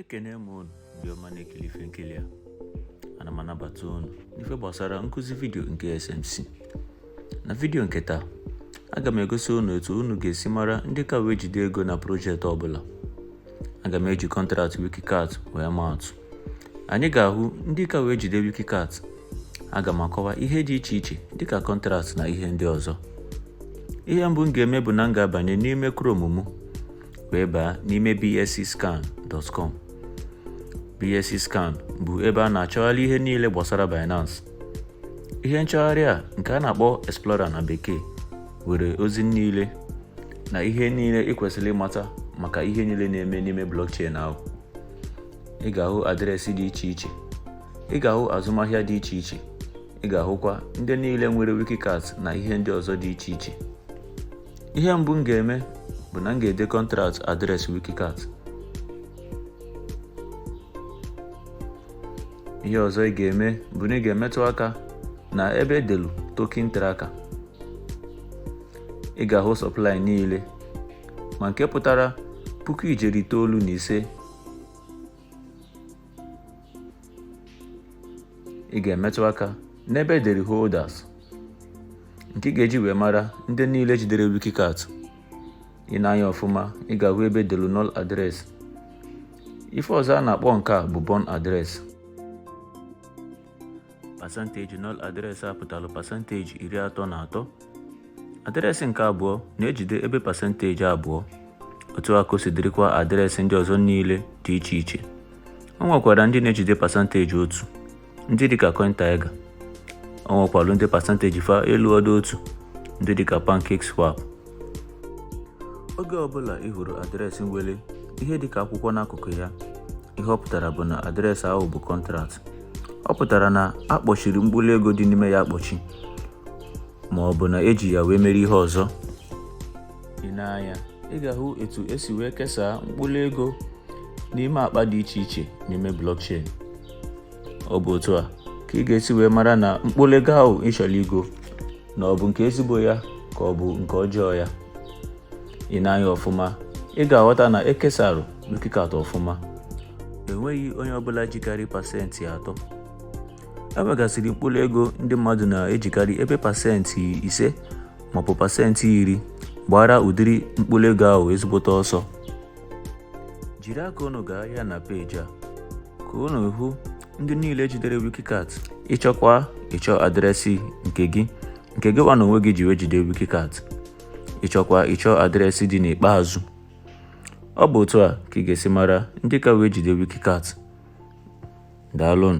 ekene m unu ndị ọma na-ekiri ife nkiri a ana m anabata unu n'ife gbasara nkụzi vidio nke SMC na vidio nke taa aga m egosi unu etu unu ga-esi mara ndị ka wee jide ego na projekti ọbụla aga m eji kọntraktị wikikat wee maa atụ Anyị ga-ahụ ndị ka wee jide Wikicat. Aga m akọwa ihe dị iche iche dịka kọntraktị na ihe ndị ọzọ. Ihe mbụ m ga-eme bụ na m ga-abanye n'ime Chrome m wee baa n'ime bscscan.com. bscscan bụ ebe a na-achọgharị ihe niile gbasara Binance. Ihe nchọgharị a nke a na-akpọ Explorer na Bekee nwere ozi niile na ihe niile ị kwesịrị ịmata maka ihe niile na-eme n'ime blockchain ahụ. ị ga-ahụ adreesị dị iche iche ị ga-ahụ azụmahịa dị iche iche ị ga-ahụkwa ndị niile nwere wikikat na ihe ndị ọzọ dị iche iche ihe mbụ m ga-eme bụ na m ga-ede kọntraktị adreesị wikikat ihe ọzọ ị ga-eme bụ na ị ga-emetụ aka na ebe edelu token tracker ị ga-ahụ sọplai niile ma nke pụtara puku ijeri itoolu na ise ị ga-emetụ aka n'ebe edere holders nke ị ga-eji wee mara ndị niile jidere wikikat i nee anya ọfụma ị ga-ahụ ebe edelu null address ife ọzọ a na-akpọ nke a bụ burn address pasanteji nọl adreesị a pụtalụ pasanteji iri atọ na atọ adreesị nke abụọ na-ejide ebe pasanteji abụọ otu a ka o si dịrịkwa adreesị ndị ọzọ niile dị iche iche o nwekwara ndị na-ejide pasanteji otu ndị dịka cointiger o nwekwalu ndị pasanteji fa eluọdụ otu ndị dịka pancakeswap oge ọbụla ị hụrụ adreesị nwere ihe dịka akwụkwọ n'akụkụ ya ihe ọ pụtara bụ na adreesị ahụ bụ kọntraktị ọ pụtara na a kpọchiri mkpụrụ ego dị n'ime ya akpọchi ma ọ bụ na eji ya wee mere ihe ọzọ i nee anya ị ga-ahụ etu esi wee kesaa mkpụrụ ego n'ime akpa dị iche iche n'ime blockchain ọ bụ otu a ka ị ga-esi wee mara na mkpụrụ ego ahụ ị chọrọ igo na ọ bụ nke ezigbo ya ka ọ bụ nke ọjọọ ya i nee anya ọfụma ị ga-aghọta na ekesara Wikikat ọfụma enweghị onye ọbụla jikarị pasentị atọ e nwegasịrị mkpụrụ ego ndị mmadụ na-ejikarị ebe pasentị ise maọbụ pasentị iri gbaara ụdịrị mkpụrụ ego ahụ ezigbote ọsọ jiri aka unu gaa ya na peji a ka unu hụ ndị niile jidere wiki cat ị chọkwa ịchọ adreesị nke gị nke gị nwa n'onwe gị ji wee jide wiki cat ị chọkwa ịchọ adreesị dị n'ikpeazụ ọ bụ otu a ka ị ga-esi mara ndị ka wee jide wiki cat daalụnụ